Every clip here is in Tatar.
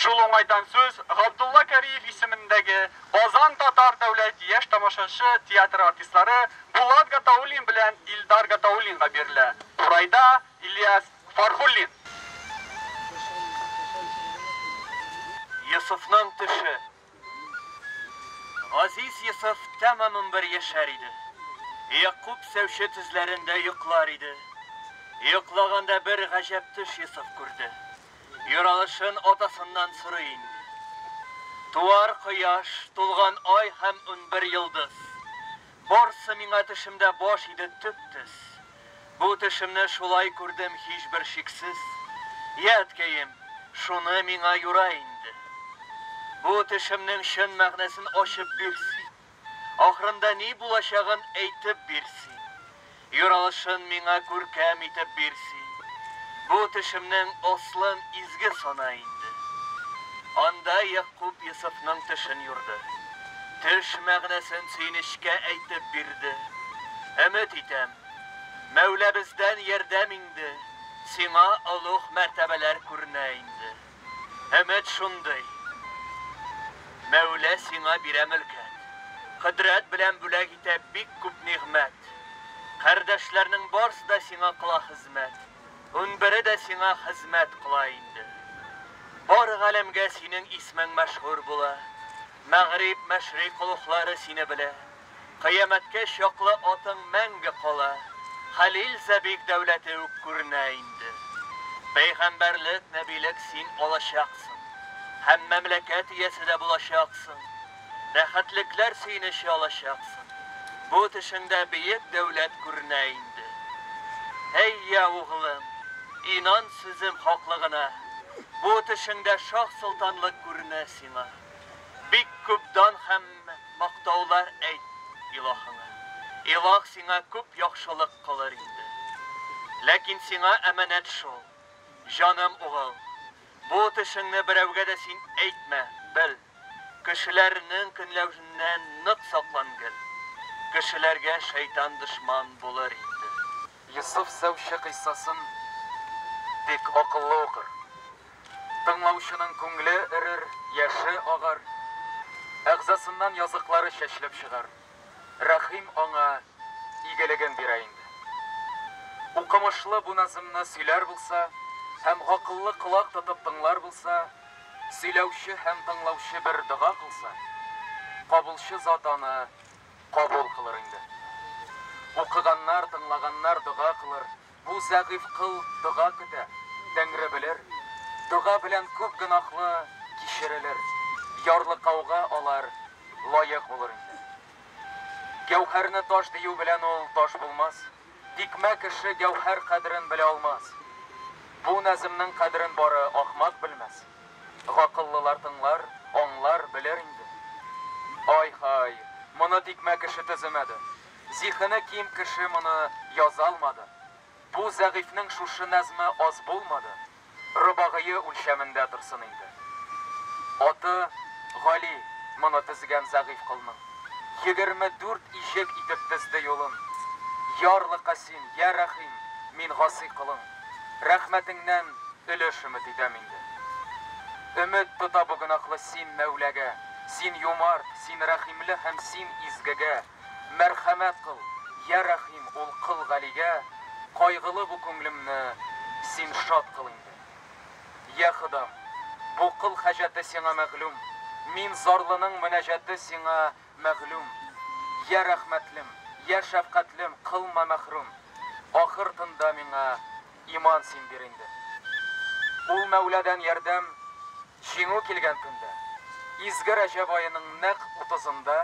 Шул уңайдан сүз Габдулла Кариев исемендәге Казан татар дәүләт яшь тамашачы театры артистлары Булат Гатауллин белән Илдар Гатауллинга бирелә. Курайда, Ильяс Фархуллин. Йосыфның төше, Газиз Йосыф тәмамән бер яшәр иде. Ягъкуб сәүче тезләрендә йоклар иде. Йоклаганда бер гаҗәп төш Йосыф күрде. Юралышын атасыннан сорый инде. Туар кояш, тулган ай һәм унбер йолдыз. Барсы миңа төшемдә баш иде төп төс. Бу төшемне шулай күрдем һичбер шиксез. Йә, әткәем, шуны миңа юра инде. Бу төшемнең чын мәгънәсен ачып бир син. Ахырында ни булачагын әйтеп бир син. Юралышын миңа күркәм итеп бир син, Бу төшемнең ослын изге сана инде. Анда Ягъкуб Йосыфның төшен юрды. Төш мәгънәсен сөенечкә әйтеп бирде. Өмет итәм, Мәүләбездән ярдәм инде, Сиңа олуг мәртәбәләр күренә инде. Өмет шундый. Мәүлә сиңа бирә мөлкәт. Кодрәт белән бүләк итә бик күп нигъмәт. Кардәшләрнең барсы да сиңа кыла хезмәт. Унбере дә сиңа хезмәт кыла инде. Бар галәмгә синең исмең мәшһүр була. Мәгъриб, мәшрик олуглары сине белә. Кыямәткә чаклы атың мәңге кала, хәлил зәбиг дәүләте үк күренә инде. Пәйгамбәрлек, нәбилек син алачаксың. Һәм мәмләкәт иясе дә булачаксың. Рәхәтлекләр сөенече алачаксың. Бу төшеңдә бөек дәүләт күренә инде. Әй йә, углым, инан сүзем хаклыгына, бу төшеңдә шаһ-солтанлык күренә сиңа. Бик күп дан һәм мактаулар әйт Илаһыңа. Илаһ сиңа күп яхшылык кылыр инде. Ләкин сиңа әманәт шул, җаным угыл, бу төшеңне берәүгә дә син әйтмә, бел, кешеләрнең көнләвеннән нык саклан гел, кешеләргә шәйтан дошман булыр инде. Йосыф Сәүче кыйссасын бик акыллы укыр. Тыңлаучының күңле эрер, яше агар, әгъзасыннан языклары чәчелеп чыгар. Рәхим аңа игелеген бирә инде. Укымышлы бу назмны сөйләр булса һәм гакыллы колак тотып тыңлар булса, сөйләүче һәм тыңлаучы бер дога кылса, кабулчы зат аны Кабул кылыр инде. Укыганнар, тыңлаганнар дога кылыр, бу зәгыйфь кыл дога көтә, Тәңре белер, дога белән күп гөнаһлы кичерелер, ярлыкауга алар лаек булыр инде. Гәүһәрне таш дию белән ул таш булмас. Тикмә кеше гәүһәр кадерен белә алмас. Бу нәземнең кадерен бары ахмак белмәс. Гакыллылар тыңлар, аңлар, белер инде. Ай-һай, моны тикмә кеше төземәде. Зиһене ким кеше моны яза алмады. Бу зәгыйфьнең шушы нәзме аз булмады. Робагые үлчәмендә торсын инде. Аты, Гали, моны тезгән зәгыйфь колның. Егерме дүрт иҗек итеп тезде юлын. Ярлы Касим, йә Рәхим, мин гасый колың. Рәхмәтеңнән өлеш өмет итәм инде. Өмет тота бу гөнаһлы син Мәүләгә, син юмарт, син рәхимле һәм син изгегә. Мәрхәмәт кыл, йә рәхим ул кыл Галигә, Кайгылы бу күңлемне син шат кыл инде. Йә Ходам, бу кыл хаҗәте сиңа мәгълүм, Мин зарлының мөнәҗәте сиңа мәгълүм. Йә рәхмәтлем, йә шәфкатьлем, кылма мәхрүм, Ахыр тында миңа иман син бир инде. Ул Мәүләдән ярдәм, Җиңү килгән көндә, изге Рәҗәб аеның нәкъ утызында,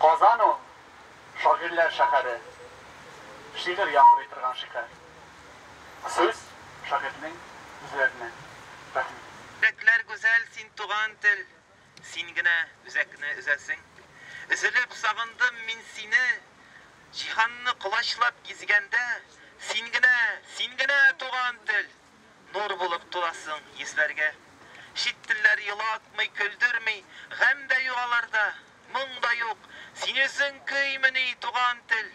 Казан ул, шагыйрьләр шәһәре, шигырь яңгырый торган шәһәр. Сүз, шагыйрьнең сүзләренә. Рәхмәт. Йөрәкләр гүзәл, син туган тел, Син генә үзәкне өзәсең. Өзелеп сагындым мин сине, Җиһанны колачлап гизгәндә, Син генә, син генә туган тел! Нур булып туласың йөзләргә. Чит телләр елатмый, көлдерми, Гамь дә юк аларда, моң да юк. Син үзең көймени, туган тел?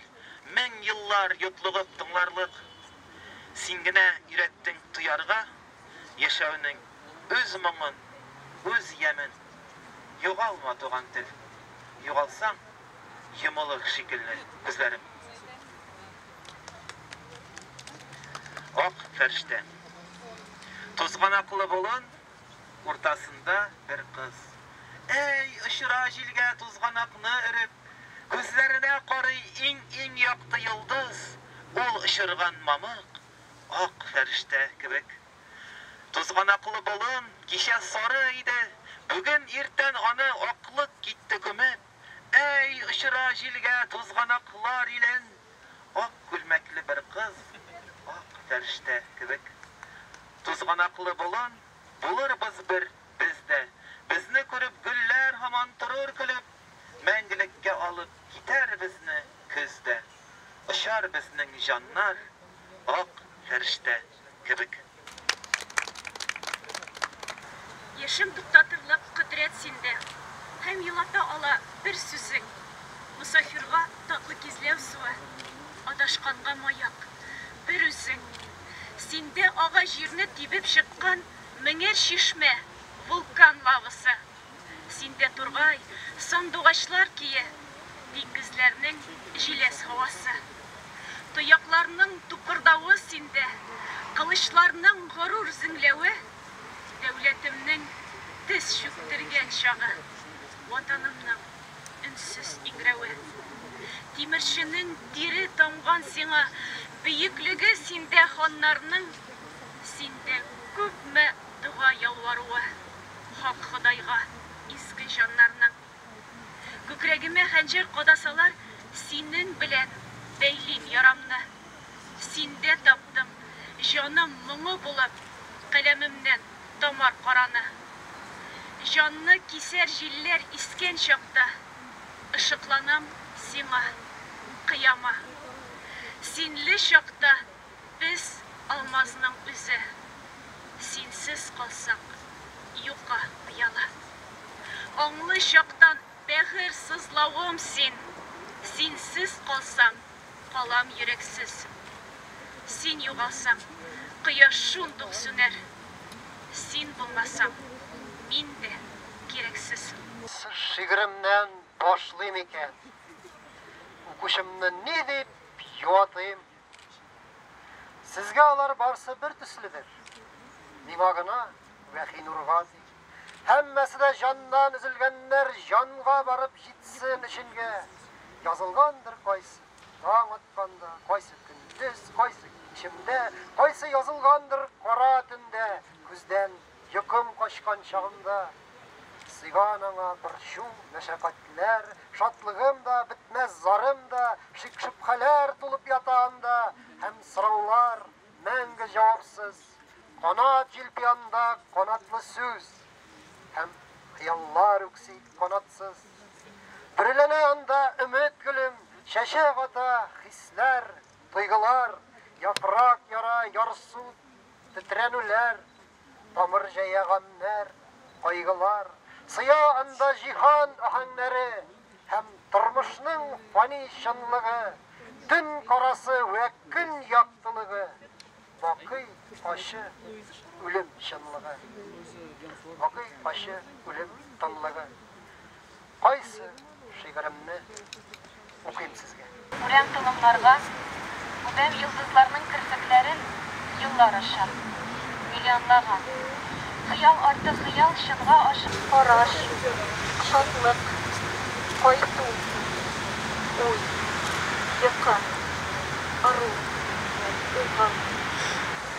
Мең еллар йотлыгып тыңларлык. Син генә өйрәттең тоярга, Яшәүнең үз моңын, үз ямен. Югалма, туган тел. Югалсаң, Йомылыр шикелле күзләрем. Ак фәрштә. Тузганаклы болын уртасында бер кыз. Әй, очыра җилгә тузганакны өреп, күзләренә карый иң-иң якты йолдыз, ул очырган мамык, ак фәрштә кебек. Тузганаклы болын кичә сары иде, бүген иртән аны аклык китте күмеп. Әй, очыра җилгә тузганаклар илен! Ак күлмәкле бер кыз, ак фәрештә кебек. Тузганаклы болын, булырбыз бер без дә. Безне күреп гөлләр һаман торыр көлеп, мәңгелеккә алып китәр безне көз дә. Очар безнең җаннар, ак фәрештә. кебек. Яшем туктатырлык кодрәт синдә, Һәм елата ала бер сүзең. Мосафирга татлы кизләү суы, Адашканга маяк, бер үзең. Синдә ага җирне тибеп чыккан Меңәр чишмә, вулкан лавасы. Син дә тургай, сандугачлар кие, Диңгезләрнең җиләс һавасы. Тоякларның тукырдавы синдә, Кылычларның горур зеңләве. Дәүләтемнең тез чүктергән чагы, Ватанымның өнсез иңрәве. Тимерченең тире тамган сиңа, Бөеклеге синдә ханнарның, Синдә күпме Дога ялваруы Хак Ходайга, Иске җаннарның Күкрәгемә хәнҗәр кадасалар, Синен белән бәйлим ярамны. Синдә таптым җаным моңы булып Каләмемнән тамар караны. Җанны кисәр җилләр искән чакта, Ышыкланам Сиңа, кыяма. Синле чакта Без, алмазның үзе, синсез калсак, юкка ояла. Аңлы чактан бәгырь сызлавым син, Синсез калсам, калам йөрәксез. Син югалсаң, кояш шундук сүнәр, Син булмасаң, мин дә кирәксез. Шигыремнән башлыйм икән, Укучымны ни дип юатыйм? Сезгә алар барсы бер төследер. Миңа гына Вәхинурга ди. Һәммәсе дә җаннан өзелгәннәр җанга барып җитсен өченгә. Язылгандыр кайсы таң атканда, кайсы көндез, кайсы кичемдә, кайсы язылгандыр кара төндә күздән Йокым качкан чагымда, Сыйган аңа борчу, мәшәкатьләр, Шатлыгым да, бетмәс зарым да, Шик-шөбһәләр тулып ята анда, Һәм сораулар, мәңге җавапсыз. Канат җилпи анда канатлы сүз, Һәм хыяллар үкси канатсыз. Бөреләнә анда өмет гөлем, Чәчәк ата хисләр, тойгылар, Яфрак яра, ярсу, Тетрәнүләр, тамыр җәя гамьнәр, кайгылар, Сыя анда җиһан аһәңнәре Һәм тормышның фани чынлыгы, Төн карасы вә көн яктылыгы, Бакый ачы үлем чынлыгы. Бакый ачы үлем тынлыгы. Кайсы шигыремне укыйм сезгә? Үләм толымнарга, үбәм йолдызларның керфекләрен Еллар аша, миллионлаган. Хыял арты хыял, чынга ашып. Караш, шатлык, кайту, уй, йокы, ыру, угы.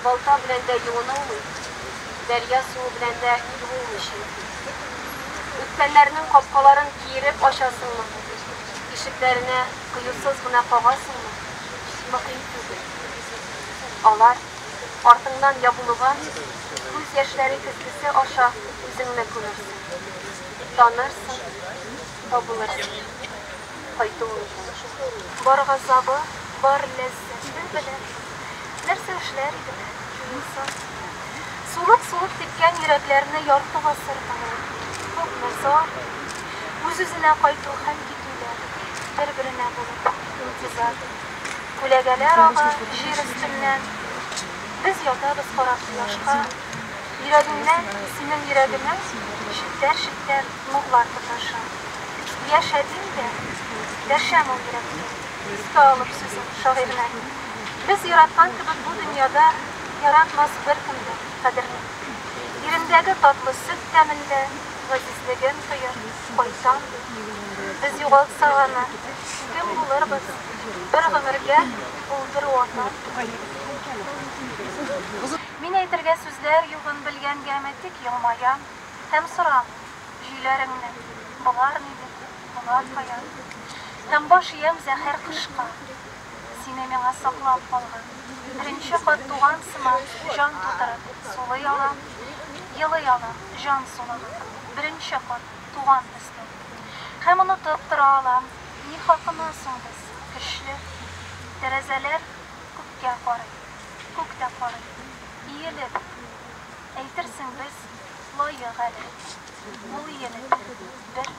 Балта белән дә юынылмый, дәрья суы белән дә юылмый чөнки. Үткәннәрнең капкаларын киереп ачасыңмы, ишекләренә кыюсыз гына кагасыңмы, мөһим түгел. Алар, артыңнан ябылуга, күз яшьләре көзгесе аша үзеңне күмерсең. Танырсың, табылырсың. Кайту мөмкин. Бар газабы, бар ләззәте. Нәрсә белән? Нәрсә эшләр идең югыйсә? Сулып-сулып типкән йөрәкләрне ярты гасыр буе күпме зар, үз-үзенә кайту һәм китүләр, бер-беренә булып интизар. Күләгәләр ага җир өстеннән, без ятабыз карап кояшка, йөрәгеңнән, синең йөрәгемә челтәр-челтәр нурлар тоташа. Яшә дим дә, дәшәм ул йөрәккә. Искә алып сүзен шагыйрьнең. Без яраткан кебек бу дөньяда Яратмас беркем дә кадерне. Ирендәге татлы сөт тәмен дә Газизлеген тоеп, кайтам ди. Без югалтсак аны, кем булырбыз? Бер гомергә ул бер ватан түгел. Мин әйтергә сүзләр югын белгәнгәме, тик елмаям һәм сорамыйм, Җөйләреңне болар ни дип? Булат хаят. Һәм баш иям зәһәр кышка. Сине миңа саклап калган. Беренче кат туган сыман, җан тутырып, сулый алам, елый алам, җан сулыгып. Беренче кат туган төсле. Һәм онытып тора алам. Ни хакына соң без, көчле? Тәрәзәләр күккә карый. Күк тә карый. Иелеп. Әйтерсең без, лаек әле. Ул иелеп. Бер.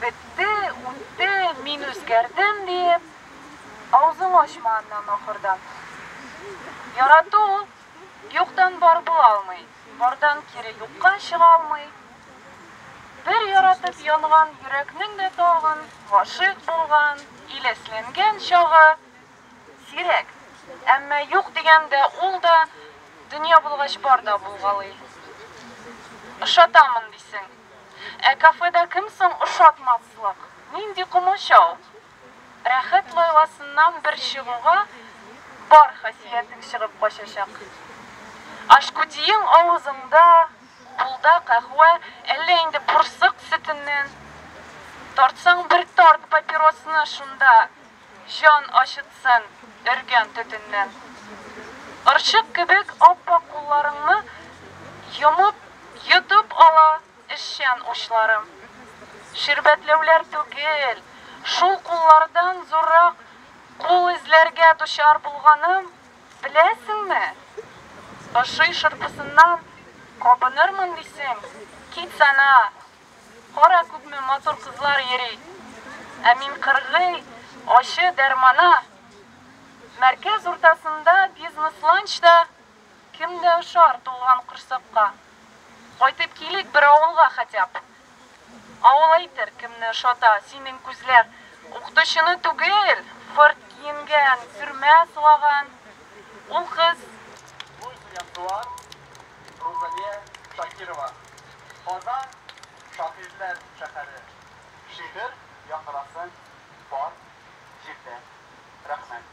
Бетте, үтте, мин үзгәрдем, диеп, авызыңны ачма аннан ахырдан. Ярату ул юктан бар була алмый, бардан кире юкка чыга алмый. Бер яратып янган йөрәкнең дә тагын гашыйк булган, иләсләнгән чагы. Сирәк, әмма юк дигәндә ул да, дөнья булгач бар да булгалый. Ошатамын дисең. Ә кафеда кем соң ошатмаслык? Нинди комачау! Рәхәт лайласыннан бер чыгуга, бар хасиятең чыгып качачак. Ашкутиең авызыңда, кулда каһвә, әллә инде бурсык сөтеннән. Тартсаң бер тарт папиросны шунда Җан ачытсын өргән төтеннән. Орчык кебек ап-ак кулларыңны йомып, йотып ала эшчән учларым. Ширбәтләүләр түгел, шул куллардан зуррак кул эзләргә дучар булганым, беләсеңме? Ошый шырпысыннан кабынырмын дисең, кит сана, Кара күпме матур кызлар йөри, ә мин кыргый ачы дәрмана. Мәркәз уртасында бизнес-ланч да, кем дә ошар тулган корсакка. Кайтып килик бер авылга хәтяб. Авыл әйтер, кемне ошата синең күзләр. Укытучыны түгел, фырт киенгән, сөрмә сылаган ул кыз. Туй белән туар Рузалия Шакирова. Казан, шагыйрьләр шәһәре. Шигырь яңгырасын бар җирдә. Рәхмәт.